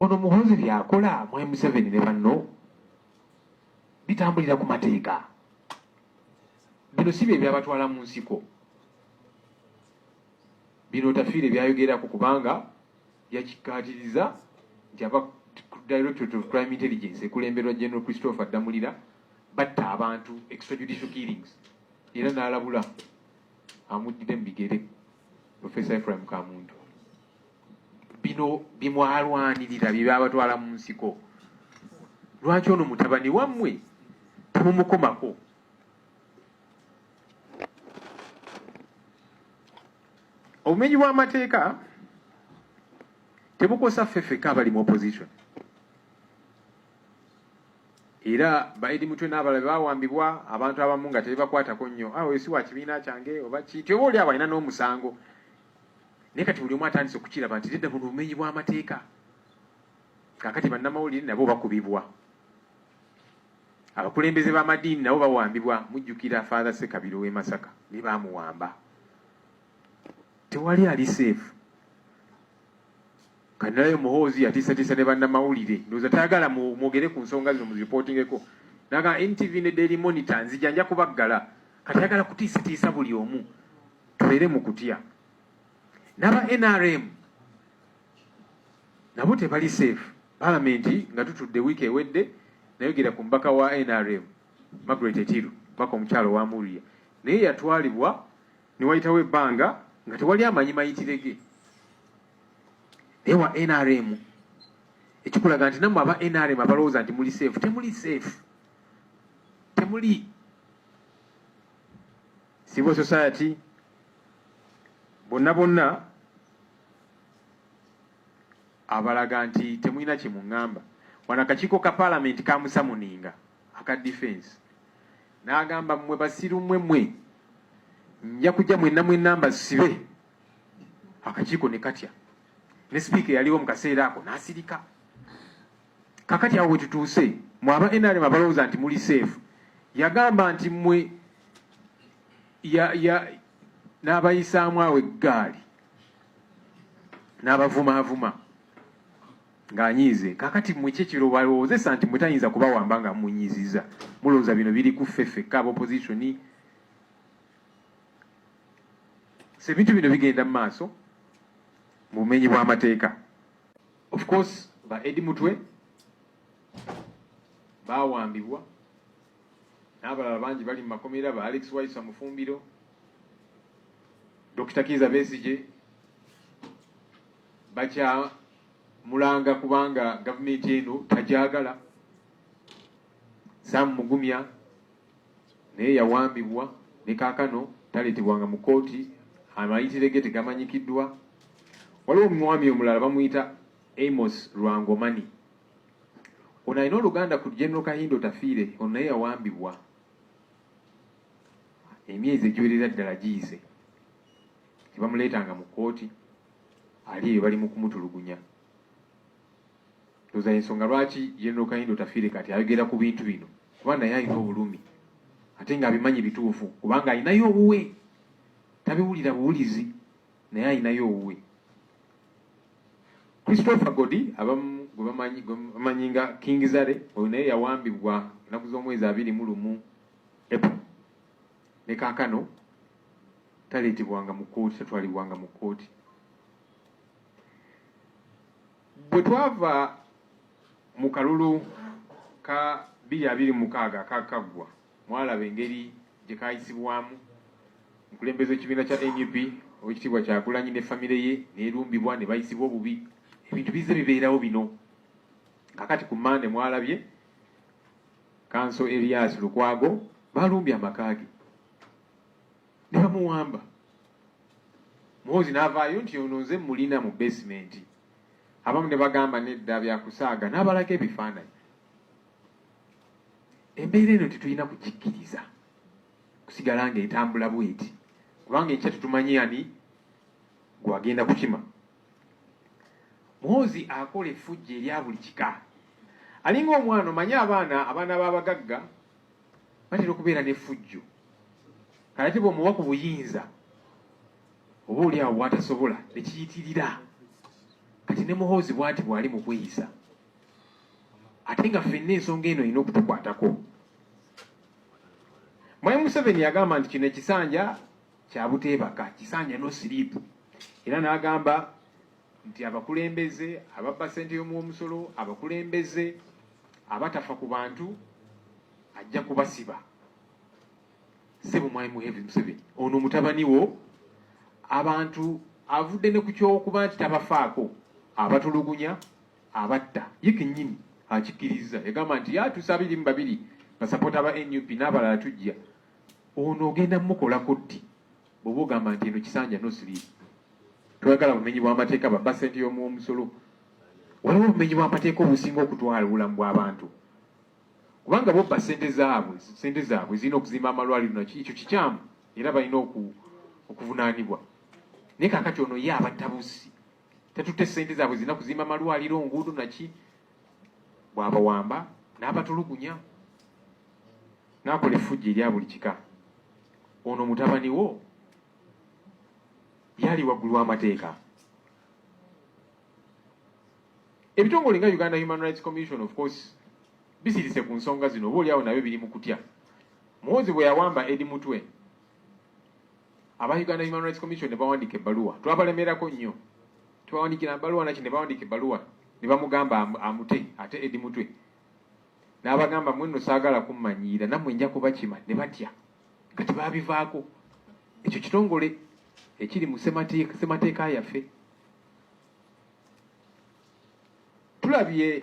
ono muhozi byakola mwe museveni ne banno bitambulira ku mateeka bino si bye byabatwala mu nsiko bino tafiire byayogerako kubanga yakikkaatiriza nti aba directorate of crime intelligence ekulemberwa general christopher damulira batta abantu extrajudicial killings era n'alabula amuddire mu bigere professor ephraim kamuntu bino bimwalwanirira byebabatwala mu nsiko lwaki ono mutabani wammwe temumukomako obumenyi bw'amateeka tebukosa ffeffeka abali mu opposition era baidi mutwe n'abala bawambibwa abantu abamu nga tebakwatako nnyo awo ah, si wa kibiina kyange oba ki tyoba oli abalina n'omusango naye kati buli omu atandise okukiraba nti nedda buno bumenyi bw'amateeka kakati bannamawulire nabo bakubibwa abakulembeze b'amadiini nabo bawambibwa mujjukira father sekabiro w'e masaka ne baamuwamba tewali ali seefu kanalayo muhoozi yatiisatiisa ne bannamawulire ndowooza tayagala mwogere ku nsonga zino muziripootingeko naga ntv ne daily monitor nzija nja kubaggala kati ayagala kutiisatiisa buli omu tubeere mu kutya naba nrm nabo tebali safe palamenti nga tutudde wiiki ewedde nayogera ku mbaka wa nrm margaret etiru mbaka omukyalo wa muria naye yatwalibwa newayitawo ebbanga nga tewali amanyi mayitirege naye wa nrm ekikulaga nti namwe aba nrm abalowooza nti muli safe temuli safe temuli civil society bonna bonna abalaga nti temulina kye muŋŋamba wano akakiiko ka paalamenti kamusamuninga aka defense n'agamba mmwe basiru mmwe mmwe nja kujja mwenna mwenna mbasibe akakiiko ne katya ne sipiika eyaliwo mu kaseera ako n'asirika Kakati awo wetutuuse mwe aba NRM abalowooza nti muli safe yagamba nti mwe ya, ya, n'abayisaamu awo eggaali n'abavumaavuma ng'anyiize kakati mwe ki kiro balowoozesa nti mwe tayinza kubawamba nga munyiziza mulowooza bino biri ku ffe ffekka aba opozitioni sebintu bino bigenda mu maaso mu bumenyi bw'amateeka Of course ba Eddie Mutwe baawambibwa n'abalala bangi bali mu makomera ba Alex Waisa Mufumbiro, Dr. Kiiza Besigye bakyamulanga kubanga gavumenti eno tagyagala. Sam Mugumya naye yawambibwa ne kaakano taleetebwanga mu kkooti, amayitire ge tegamanyikiddwa. Waliwo omwami omulala bamuyita Amos Lwangomani, ono alina oluganda ku General Kahindo Tafiire, ono naye yawambibwa emyezi egiwerera ddala giyise, tebamuleetanga mu kkooti, ali eyo bali mu kumutulugunya. ndoza yensonga lwaki general kayindo tafire kati ayogera ku bintu bino kuba naye alina obulumi ate nga abimanyi bituufu kubanga alinayo obuwe tabiwulira buwulizi naye alinayo obuwe christopher godi abamu gwebamanyi nga king zare oyo naye yawambibwa enaku z'omwezi abiri mu lumu epo ne kakano taleetebwanga mu kkooti tatwalibwanga mu kkooti bwe twava mu kalulu ka bbiri abiri mukaaga akakaggwa mwalaba engeri gye kaayisibwamu omukulembeze w'ekibiina kya nup owekitiibwa kyagulanyi ne famire ye neerumbibwa ne bayisibwa obubi ebintu bizze bibeerawo bino kakati ku mande mwalabye kanso erias lukwago balumbye amaka ge ne bamuwamba muhoozi n'avaayo nti ono nze mulina mu basementi abamu ne bagamba nedda byakusaaga n'abalaga ebifaananyi embeera eno tetulina kukikkiriza kusigala nga etambula bweti kubanga enkya tetumanyi ani gwagenda kukima muhoozi akola efujja erya buli kika alinga omwana omanye abaana abaana b'abagagga batera okubeera n'effujjo kalati bwomuwa ku buyinza oba oli awo bwatasobola nekiyitirira kati ne muhoozi bwati bwali mu kweyisa ate nga fenna ensonga eno erina okutukwatako mwayi museveni yagamba nti kino ekisanja kyabuteebaka kisanja no siripu era n'agamba nti abakulembeze ababba ssente y'omuwomusolo abakulembeze abatafa ku bantu ajja kubasiba sebo mwali muhevi museveni ono mutabani wo abantu avudde ne ku kyokuba nti tabafaako abatulugunya abatta ye kenyini akikirizza yagamba nti yatusa abiri mu babiri basapoota ba nup n'abalala tujja ono ogenda mukolako ddi bwoba ogamba nti eno kisanja nosiriiza toyagala bumenyi bwamateeka babba sente yomuwomusolo waliwo obumenyi bwamateeka obusinga okutwala obulamu bwabantu kubanga bobba sente zaabwe sente zaabwe zirina okuzimba amalwaliro naki ekyo kikyamu era balina okuvunaanibwa naye kakati ono ye abattabusi tatute sente zaabwe zirina kuzimba amalwaliro nguudo naki bw'abawamba n'abatulugunya n'akola effujjo erya buli kika ono mutabani wo yali waggulu w'amateeka ebitongole nga uganda human rights commission of course bisirise ku nsonga zino oba oliawo nabyo biri mu kutya muwozi bwe yawamba edi mutwe aba Uganda Human Rights Commission ne bawandiika ebbaluwa twabalemerako nnyo tubawandikira mbaluwa naki ne bawandiika ebbaluwa ne bamugamba amute ate edi mutwe n'abagamba mwe nno saagala kummanyiira nammwe nja kubakima ne batya nga tebaabivaako ekyo kitongole ekiri mu ssemateeka yaffe tulabye